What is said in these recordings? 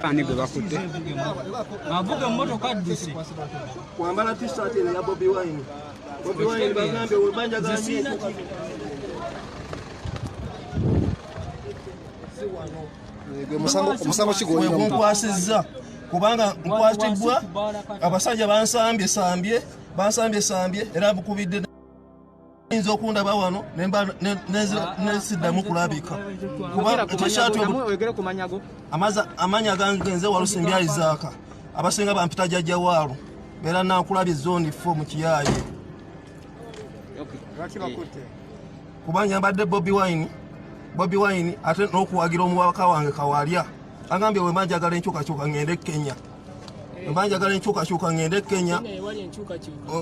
ani gwe bakutte avuga emmotoka adduse kwambala tisati eno ya bobi wine bobi wine bagambye webanja gambye omusango kigwegunkwasizza kubanga nkwatibwa abasajja bansambye sambye bansambye sambye era bukubidde yinza okundaba wano nesiddamu kulabika kuba ekyeshaati amanya gange nze walusimbi aizaaka abasinga bampita jajja waalo beera nakulabye zoni fo mu kiyaaye kuba nyambadde bobi wine bobi wine ate n'okuwagira omuwaka wange kawalya agambye wemba njagala enkyukakyuka ngende kenya mba njagala enkyukakyuka ŋŋende e kenya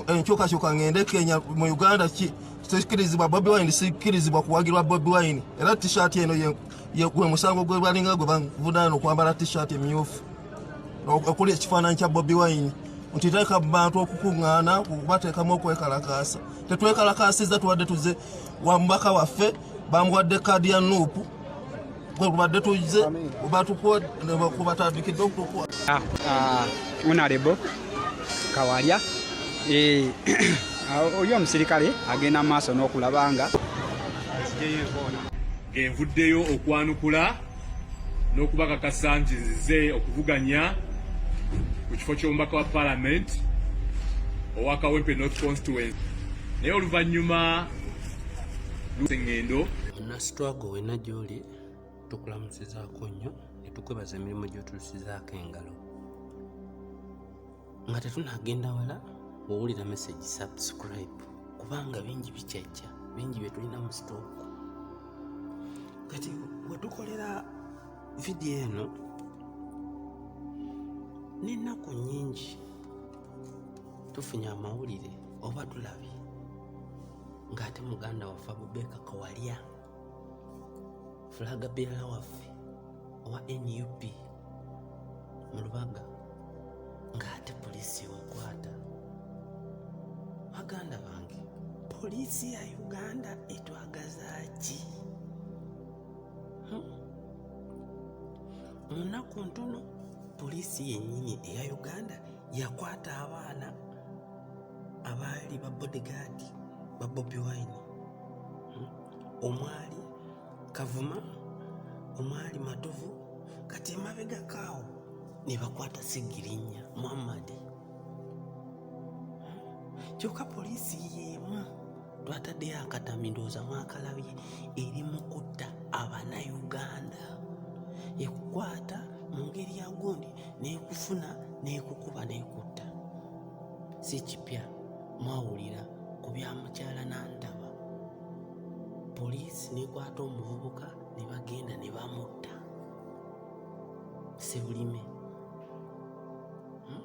enkyukakyuka ŋŋende e kenya mu uganda sikirizibwa bobi wine sikirizibwa kuwagirwa bobi wine era tishat eno gwe musango gwe balinga gwe bavunana okwambala tishat emyufu okuli ekifaananyi kya bobi wine nti teeka mu bantu okukuŋŋaana kubateekamu okwekalakaasa tetwekalakaasiza tubadde tuze wa mubaka waffe bamuwadde kaadi ya nuupu gwe kubadde tuze batukuwa nebakubatandikidde okutukuwa ah, ah, onalebo kawalya eh, ah, oli omusirikale agenda mu maaso n'okulaba nga envuddeyo okwanukula n'okubakakasa nti nzize okuvuganya ku kifo ky'omubaka wa palamenti owa kawempe north constituency naye oluvannyuma lusengendo nasitwago wena gyoli tukulamusizaako nnyo netukwebaza emirimu gyotulusizaako engalo nga tetunagenda wala wowulira message subscribe kubanga bingi bikyajja bingi byetulina mu stock kati wetukolera vidiyo eno n'ennaku nnyingi tufunye amawulire oba tulabye ng'ate muganda waffe abubeeka kawalya fulaga beera waffe owa nup mu lubaga ng'ate poliisi ewakwata baganda bange poliisi ya uganda etwagaza ki hmm? munaku ntono poliisi yennyini eya uganda yakwata abaana abaali ba bodyguard ba bobi wine hmm? omwali kavuma omwali matovu kati emabega kaawo ne bakwata segirinya muhammadi hmm? kyokka poliisi yeemu twataddeyo akatami ndowooza mwakalabye eri mu kutta abanauganda ekukwata mu ngeri ya gundi nekufuna nekukuba nekutta si kipya mwawulira ku bya mukyala nantaba poliisi nekwata omuvubuka ne bagenda ne bamutta sebulime hmm?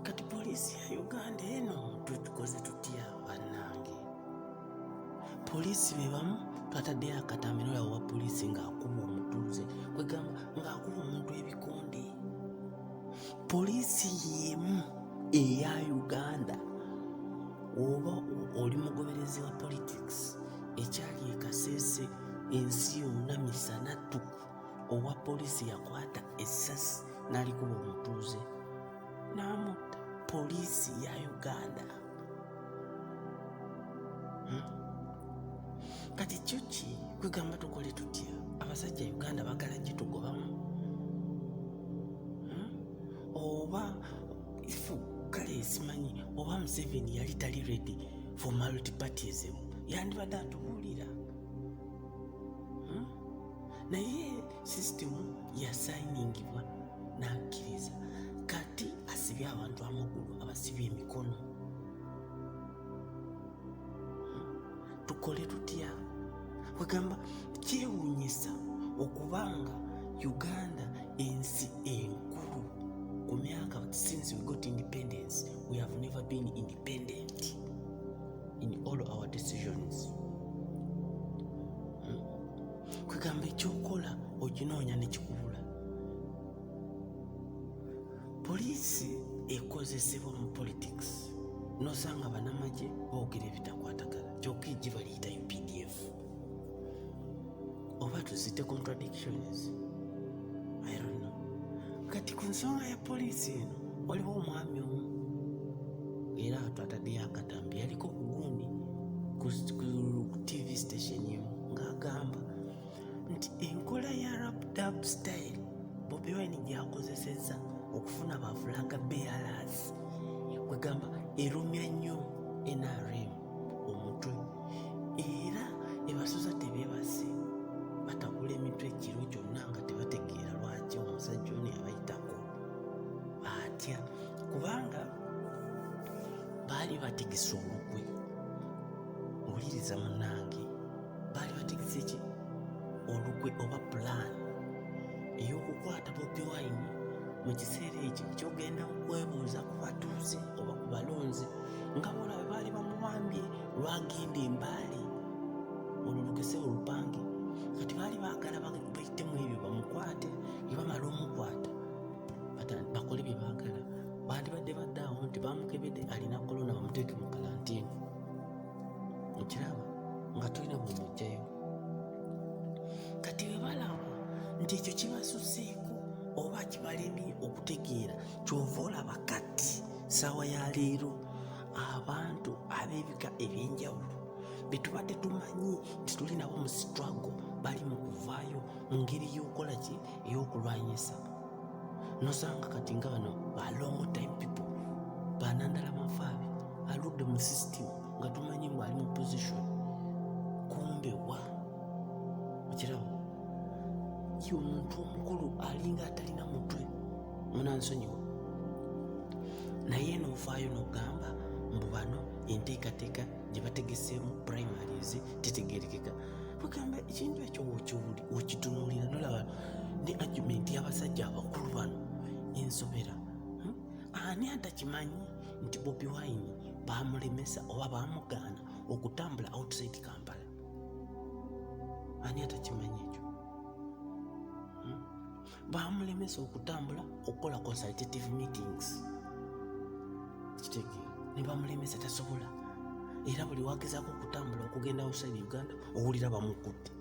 kati poliisi ya uganda eno tukoze tutya bannange poliisi bebamu twataddeyo akatamiro yawo wa poliisi ng'akuba omutuuze kwegamba ng'akuba omuntu ebikonde poliisi y'emu eya uganda oba oli mugoberezi wa politics ekyali ekasese ensi yonna misana ttuku owa poliisi yakwata essasi n'alikuba omutuuze n'amutta poliisi ya uganda hmm? kati kyo ki kwegamba tukole tutya abasajja uganda bagala gitugobamu hmm? oba ifu kale esimanyi oba museveni yali tali ready for multipartism yandibadde atubuulira naye sisitemu yasayiningibwa n'akkiriza kati asibye abantu amagulu abasibye emikono tukole tutya kwegamba kyewunyisa okubanga uganda ensi enkulu ku myaka since we got independence we have never been independent in all our decisions kwegamba ekyokola oginoonya nekikubula poliisi ekozesebwa mu politics nosanga banamagye boogera ebitakwatagala kyoka ejji baliyita updf oba tuzite contradictions i don't know kati ku nsonga ya poliisi eno waliwo omwami omu era twataddeyo akatambi yaliko kugundi ku tv station emu ng'agamba nti enkola ya rapdab style bobi wine gyakozesezza okufuna bafulaga bearers kwegamba erumya nnyo nrm omutwe era ebasuza tebebase batakula emitwe ekiro kyonna nga tebategeera lwaki omusajja ono yabayitako batya kubanga baali bategesa olukwe wuliriza munange baali bategese ki olukwe oba pulaani ey'okukwata bobi wine mu kiseera ekyo kyogenda kwebuuza ku batuuze oba ku balonzi nga bona bwe baali bamubambye lwagenda embaali olwo lukese olupange kati baali baagala baitemu ebyo bamukwate ebamala omukwata bakole bye baagala bandibadde badde awo nti bamukebede alina kolona bamuteeke mu kalantini okiraba nga tulina bwe mujjayo kati webalaba nti ekyo kibasuseeko oba kibalemi okutegeera kyova olaba kati saawa ya leero abantu ab'ebika eby'enjawulo betubadde tumanyi nti tuli nabo mu sitrago bali mu kuvaayo mu ngeri y'okukola ki ey'okulwanyisa nosanga kati nga bano ba long time people banandala mafaabi aludde mu system nga tumanyi mbu ali mu position kumbe wa okirabo ye omuntu omukulu alinga atalina mutwe munansonyiwa naye nofaayo nogamba mbu bano enteekateeka gye bategeseemu primaries titegerekeka bagamba ekintu ekyo okitunuulira nolaba ne agumenti y'abasajja abakulu bano ensobera hmm? ani atakimanyi nti bobi wine bamulemesa oba bamugaana okutambula outside kampala ani atakimanyi ekyo baamulemesa okutambula okukola consultative meetings kitege ne bamulemesa tasobola era buli wagezaako okutambula okugenda outside uganda owulira bamukutte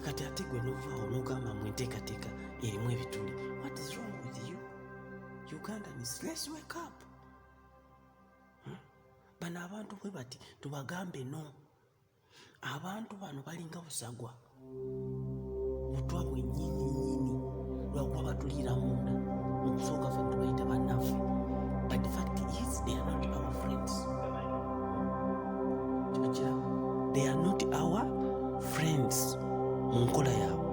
kati ate gwe novaawo nogamba mu enteekateeka erimu ebituli what is wrong with you uganda is let's wake up hmm? bano abantu bwe bati tubagambe no abantu bano balinga busagwa butwa bwenyininyini lwakuba batuliira munda mukusooka fe tubayita banaffe but the fact is they are not our friends kinakira they are not our friends mu nkola yaabwe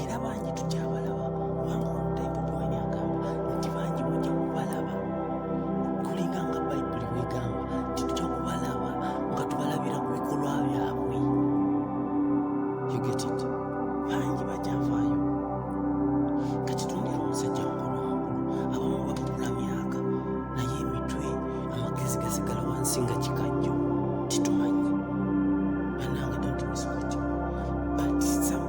era bangi tukyabalaba kubanga omutaipu bwanya agamba nti bangi mujja kubalaba kulinga nga bayibuli bwegamba nti tujja kubalaba nga tubalabira ku bikolwa byabwe yugetit bangi bajavaayo kati tundira omusajja mukulu mukulu abamu babukula myaka naye emitwe amagezi gasigala wansi nga kikajjo titumanyi banange don't miss what you but sometimes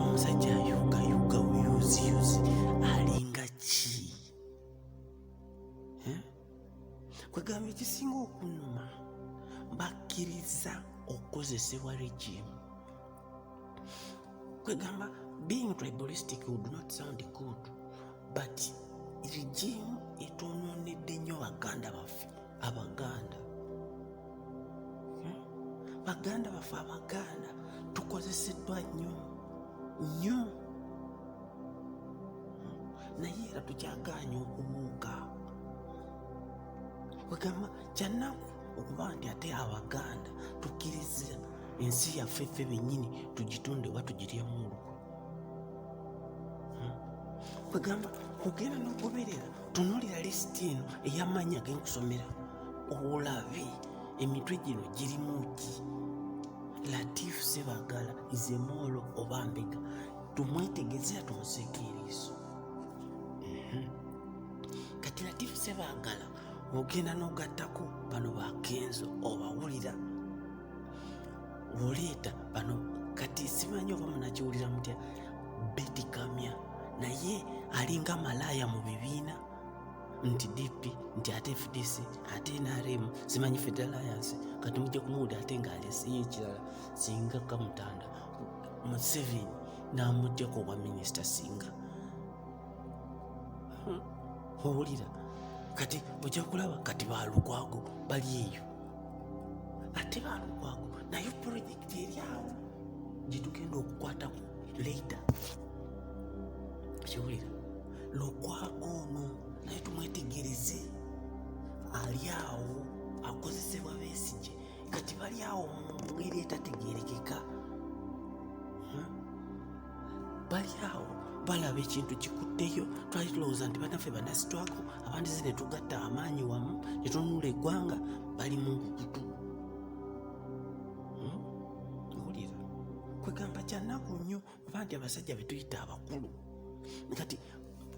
omusajja ayuga yuga uyuzi yuzi alinga ki eh? kwegamba ekisinga okunuma bakkiriza okukozesebwa regime kwegamba being tribalistic would not sound good but regime etwononedde nnyo baganda baffe abaganda hmm? baganda baffe abaganda tukozeseddwa nnyo nnyo hmm? naye era tukyagaanya okubuuka wegamba kyanaku okuba nti ate abaganda tukkiriza ensi yaffe ffe bennyini tugitunde oba tugiryemu olukwe kwegamba ogenda nokuberera tunulira lisiti eno eyamaanyi agenkusomera olabe emitwe gino girimu ki latifu sebagala izemoolo oba mbega tumwetegezera tumuseeko eriiso mhm. kati latifu sebagala ogenda nogattako bano bakenzo obawulira oleeta bano kati simanyi oba munakiwulira mutya betikamya naye alinga malaaya mu bibiina nti dp nti ate fdc ate nrm simanyi federaliance kati mujja kumuwulira ate ngaalesiyo ekirala singa kamutanda museveni namugjako obwa minisita singa hmm. owulira kati ojja kulaba kati balukwago bali eyo ate balukwago naye pulojekiti eri awo gyetugenda okukwatako leita kiwulira lukwago ono naye tumwetegereze ali awo akozesebwa besigye kati bali awo mu ngeri etategerekeka bali awo balaba ekintu kikutteyo twali tulowooza nti banaffe banasitwako abandi ze ne tugatta amaanyi wamu ne tununula eggwanga bali mu nkukutu hmm? owulira kwegamba kyanaku nnyo oba nti abasajja betuyita abakulu kati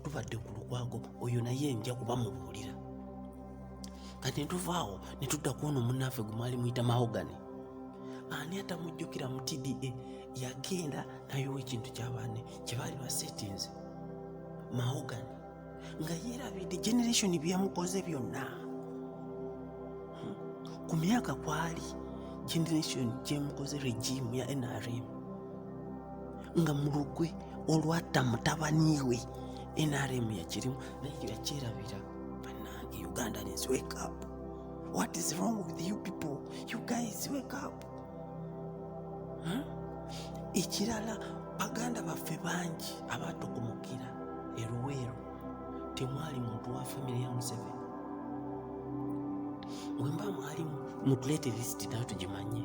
tubadde ku lukwago oyo naye nja kuba mubuulira kati netuvaawo netudda kuono munaffe gwe mwali muyita mahogani ani atamujjukira mu tda e? yagenda nayowa ekintu kyabaane kyebaali basetinze mahogani nga yeerabidde generation byeyamukoze byonna hmm. ku myaka kwali generation gyemukoze regimu ya nrm nga mulugwe olwatta mutabani we nrm yakirimu naye yakyerabira banange ugandans wake up what is wrong with you people you guys wake up huh? ekirala baganda baffe bangi abatukumukira eruweero temwali muntu wa famiry ya museveni wemba mwalimu mutuleete lisiti nayo tugimanye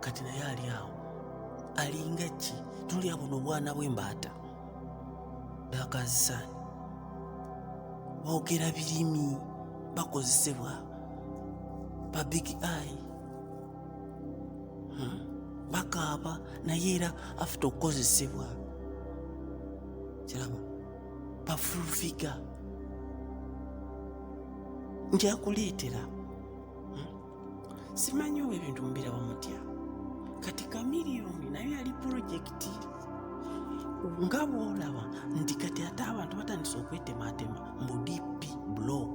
kati naye ali awo alinga ki tuli abona obwana bw'embaata dakazisaani boogera birimi bakozesebwa ba big eye hmm. bakaaba naye era afite okukozesebwa kiraba bafulfiga njakuleetera simanyi oba ebintu mubirawo mutya kati kamiliyoni nayo yali pulojekiti nga bwolaba nti kati ate abantu batandise okwetematema mbu dp blok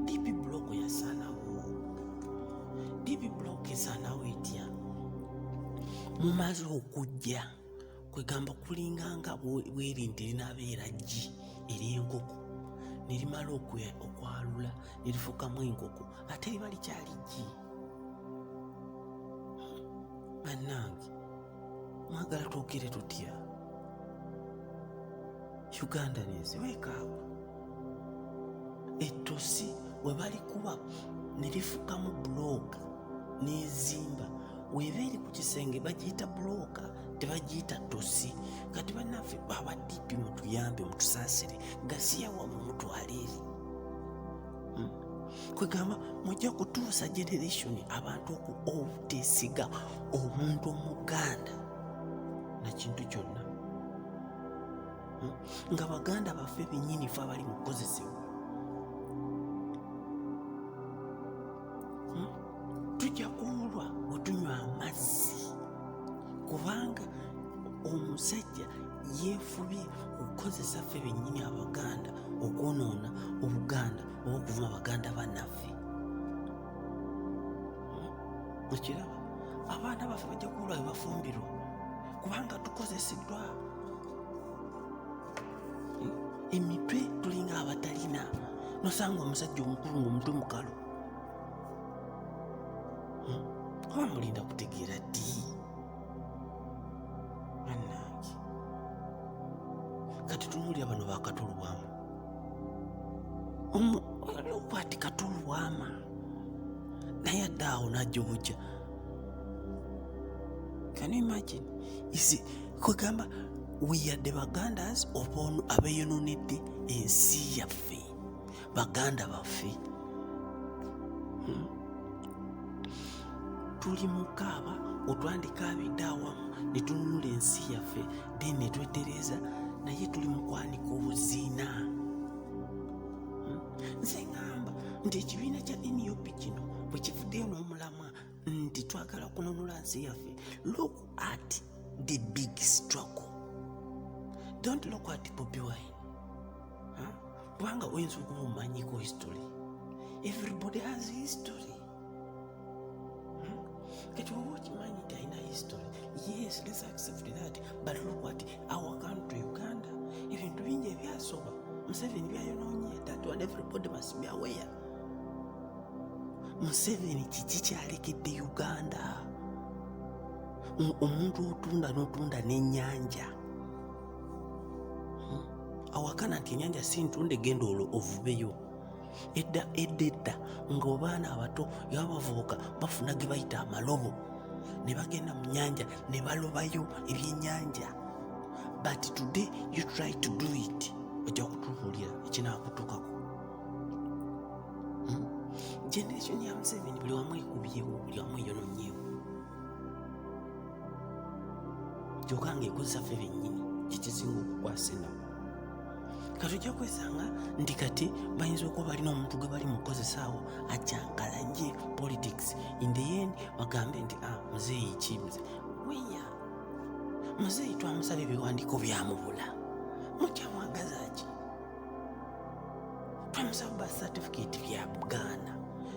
dp blok yasanawo dp blok esanawo etya mumaze okujja kwegamba kulinga nga bwerinte linabeera ggi ery'enkoko nerimala okwalula nerifukamu enkoko ate liba likyali ggi bannange mwagala twogere tutya uganda nensi wekaawa ettosi we balikuba ne lifukamu bulooka n'ezimba weba eri ku kisenge bagiyita bulooka tebagiyita ttosi kati banaffe baba dipi mutuyambe mutusaasire gasiya wamu mutwale eri hmm. kwegamba mujja kutuusa generation abantu oku obutesiga omuntu omuganda nakintu kyonna hmm? nga baganda baffe bennyini fe abali mu kukozesebwa hmm? tujja kuwulwa otunywa amazzi kubanga omusajja yeefubye okukozesa ffe bennyini abaganda okwonoona obuganda oba okuvuma baganda banaffe okiraba abaana baffe bajja kuwulwa bebafumbirwa kubanga tukozeseddwa emitwe tulinga abatalina nosanga omusajja omukulu ngaomutwe mukalu hmm? oba mulinda kutegeera ddi banange kati tunuulira bano bakatulwamu okwati katulwama naye adde awo najja obujja can you imagine isi kwegamba weyadde bagandas obono abeyononedde ensi yaffe baganda baffe hmm? tuli mukaaba otwandika abidde awamu netununula ensi yaffe then netwetereza naye tuli mukwanika obuzina hmm? nze ngamba nti ekibiina kya nup kino bwekivuddeyo n'omulamwa nti twagala kununula nsi yaffe look at the big struggle don't look at bobi wine kubanga huh? oyinza okumumanyiko history everybody has history hmm? kati oba okimanyi nti alina history yes let's accept that but look at our country uganda ebintu bingi ebyasoba museveni byayononye that one everybody must be aware museveni kiki kyalekedde uganda omuntu otunda notunda nenyanja hmm? awakana nti enyanja si ntunde genda olwo ovubeyo edda edda edda ngaobaana abato yabavubuka bafuna ge bayita amalobo ne bagenda mu nyanja ne balobayo ebyenyanja but today you try to do it ojja kutubuulira ekinakutukako hmm? generation ya Museveni buli wamu ekubyewo buli wamu eyononyewo kyoka nga ekozesa ffe bennyini kyekisinga okukwasa enaku kati ojja kwesanga nti kati bayinza okuba balina omuntu gwe bali mukozesaawo ajankalanye politics in the end bagambe nti ah, muzeeyi ki weya muzeeyi twamusaba ebiwandiiko byamubula mukyamwagaza ki twamusaba ba certificate bya buganda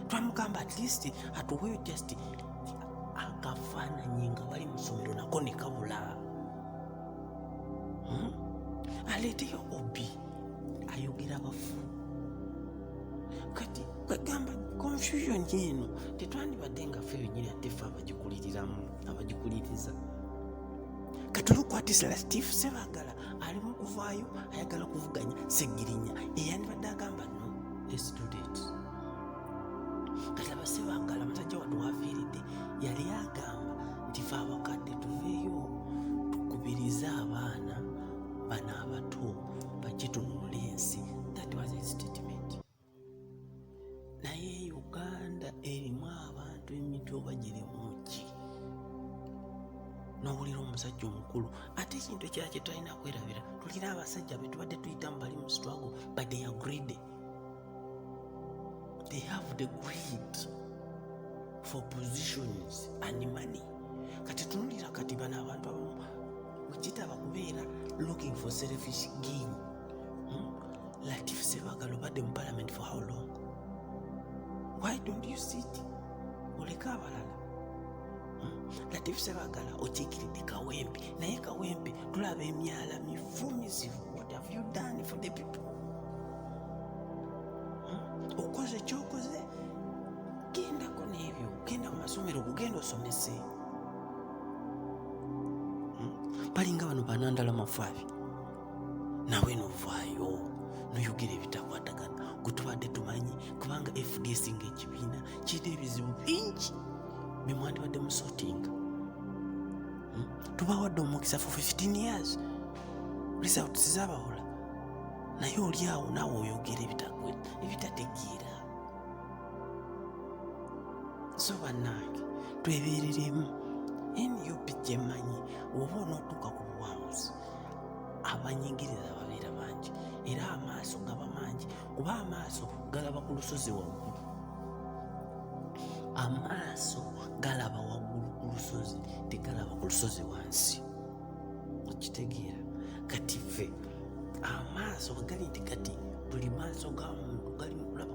twamugamba at least atuweyo just akafaananyi nga bali mu ssomero nako ne kabula hmm? aleeteyo obi ayogera bafu kati kwegamba confusion eno tetwandibadde nga fe yenyini ate fe abagikuliriramu abagikuliriza katulukwatisa latif sebagala alimu okuvaayo ayagala okuvuganya segirinya eyandibadde agamba no estudet kati abasebangala musajja watu wafiiridde yali agamba nti fe abakadde tuveeyo tukubirize abaana bana abato bakitunula ensi that was his statement naye uganda erimu abantu emitwe oba girimu ki nowulira omusajja omukulu ate ekintu ekira kyetulina kwerabira tulina abasajja betubadde tuyitamu bali mu struggle but they are greedy they have the greed for positions and money kati tunulira kati bano abantu abamu wekitaba kubeera looking for selfish gain Hmm? Latif Sebagala obadde mu parliament for how long? Why don't you sit? Oleka abalala. Hmm? Latif Sebagala okikiridde kawempe naye kawempe tulaba emyala mifu mizibu. What have you done for the people? Hmm? Okoze kyokoze gendako n'ebyo genda mu masomero okugenda osomese. balinga bano banandala mafaabi nawe novaayo noyogera ebitakwatagana gwe tubadde tumanyi kubanga fdc nga ekibiina kirina ebizibu bingi bemwandibadde musotinga hmm? tubawadde omukisa for 15 years results zabawula naye oli awo naawe oyogera ebitategeera so bannange twebereremu nup gyemanyi oba onootuuka ku buwanguzi abanyigiriza babeera bangi era amaaso gaba mangi kuba amaaso galaba ku lusozi waggulu amaaso galaba waggulu ku lusozi tegalaba ku lusozi wansi okitegeera kati ffe amaaso gali nti kati buli maaso ga muntu gali mukulaba